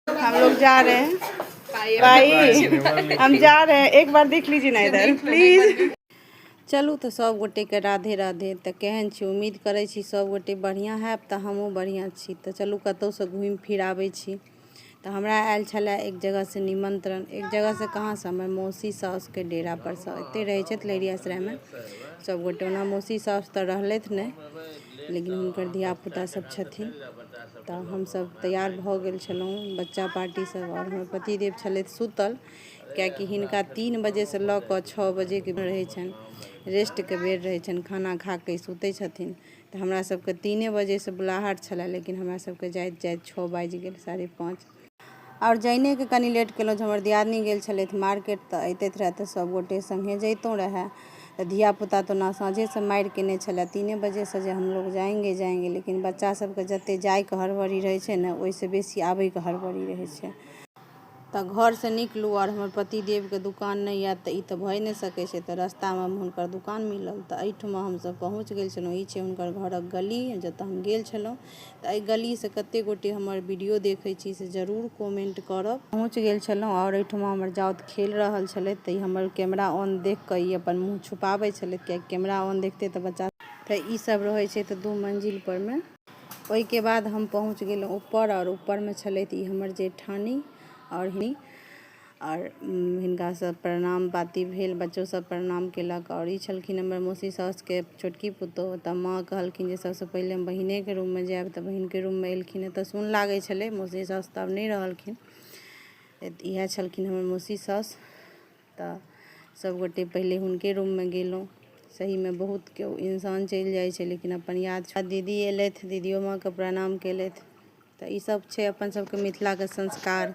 हम लोग जा रहे हैं भाई हम जा रहे हैं एक बार देख लीजिए ना इधर प्लीज चलू तो सब गोटे के राधे राधे तो केहन छी उम्मीद करे छी सब गोटे बढ़िया है तो हमहूँ बढ़िया छी तो चलू कतौ से घूम फिर आबे छी तो हमरा आयल छले एक जगह से निमंत्रण एक जगह से कहाँ से हमर मौसी सास के डेरा पर से एते रहे छथि लहरियासराय में सब गोटे ओना मौसी सास तो रहलथि नहीं लेकिन हुनकर धियापुता सब छथिन तऽ हमसभ तैयार भऽ गेल छलहुँ बच्चा पार्टीसभ आओर हमर पतिदेव छलथि सुतल कियाकि हिनका तीन बजेसँ लऽ कऽ छओ बजेके रहै छनि रेस्टके बेर रहै छनि खाना खा कऽ ई सुतै छथिन तऽ हमरासभके तीने बजेसँ बुलाहट छलए लेकिन हमरासभके जाइत जाइत छओ बाजि गेल साढ़े पाँच आओर जइने के कनी लेट केलहुँ जे हमर दियादनी गेल छलथि मार्केट तऽ अइतथि रहथि तऽ सब गोटे सङ्गे जइतहुँ रहय तऽ धिया पूता तऽ ओना साँझेसँ मारि कयने छलय तीने बजेसँ जे हमलोग जायेंगे जायेंगे लेकिन बच्चा सबके जते जाइके हड़बड़ी रहय छै ने ओइसँ बेसी आबयके हड़बड़ी रहय छै तऽ घरसँ निकलू आओर हमर पति देवके दोकान नहि आयत तऽ ई तऽ भए नहि सकय छै तऽ रस्तामे हुनकर दोकान मिलल तऽ अइठमा हमसब पहुँच गेल छलहुँ ई छै हुनकर घरक गली जतऽ हम गेल छलहुँ तऽ एहि गलीसँ कतेक गोटे हमर वीडियो देखैत छी से जरूर कमेन्ट करब पहुँच गेल छलहुँ आओर एहिठमा हमर जाउत खेल रहल छलथि तऽ ई हमर कैमरा ऑन देख कऽ ई अपन मुँह छुपाबैत छलथि किएकि कैमरा ऑन देखते तऽ बच्चा तऽ ई सब रहैत छै तऽ दू मंजिल परमे ओहिके बाद हम पहुँच गेलहुँ ऊपर आओर ऊपरमे छलथि ई हमर जेठानी आओर ही आओर हिनका सभ प्रणाम पाती भेल बच्चो सभ प्रणाम केलक आओर ई छलखिन हमर मौसी साउसके छोटकी पुतोहु तऽ माँ कहलखिन जे सभसँ पहिले हम बहिनेके रूममे जायब तऽ बहिनके रूममे एलखिन तऽ सुन लागै छलै मौसी साउस तऽ आब नहि रहलखिन इएह छलखिन हमर मौसी साउस तऽ सभगोटे पहिले हुनके रूममे गेलहुँ सहीमे बहुत केओ इंसान चलि जाइ छै लेकिन अपन याद दीदी एलथि दीदियो माँके प्रणाम केलथि तऽ ई सब छै अपन सबके मिथिला के संस्कार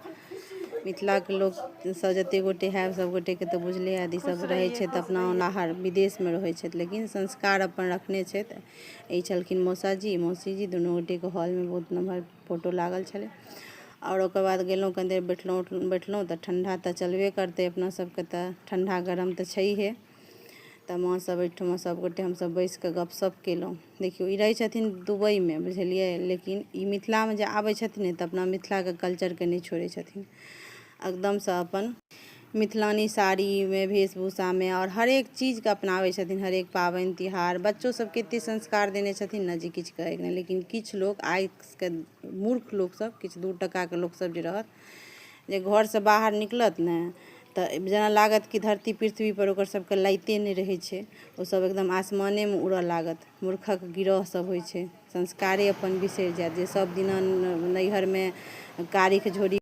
मिथिला के लोक सब जते गोटे हयब सब गोटे के तऽ बुझले हयत ई सब रहे छै तऽ अपना ओनाहर विदेश मे रहै छथि लेकिन संस्कार अपन रखने छथि ई छलखिन मौसा जी मौसी जी दुनू गोटे के हॉल मे बहुत नमहर फोटो लागल छलै आओर ओकर बाद गेलहुॅं कनी देर बैठलहुॅं उठलहुॅं बैठलहुॅं तऽ ठंडा तऽ चलबे करतै अपना सबके तऽ ठंडा गरम तऽ छैहे तऽ माँ सब ओहिठमा सब गोटे हमसब बैस कऽ गपशप केलहुॅं देखियौ ई रहै छथिन दुबइमे बुझलियै लेकिन ई मिथिलामे जे आबै छथिन तऽ अपना मिथिलाके कल्चरके नहि छोड़ै छथिन एकदमसँ अपन मिथिलानी साड़ीमे वेशभूषामे आओर हरेक चीजके अपनाबै छथिन हरेक पाबनि तिहार बच्चो सभके एते संस्कार देने छथिन ने जे किछु कहैके नहि लेकिन किछु लोक आइके मूर्ख लोक सभ किछु दू टकाके लोक सभ जे रहत जे घरसँ बाहर निकलत ने तऽ जेना लागत कि धरती पृथ्वीपर ओकर सभके लाइते नहि रहै छै ओसभ एकदम आसमानेमे उड़य लागत मूर्खक गिरह सभ होइ छै संस्कारे अपन बिसरि जायत जे सभ दिना नैहरमे कारीख झोरीख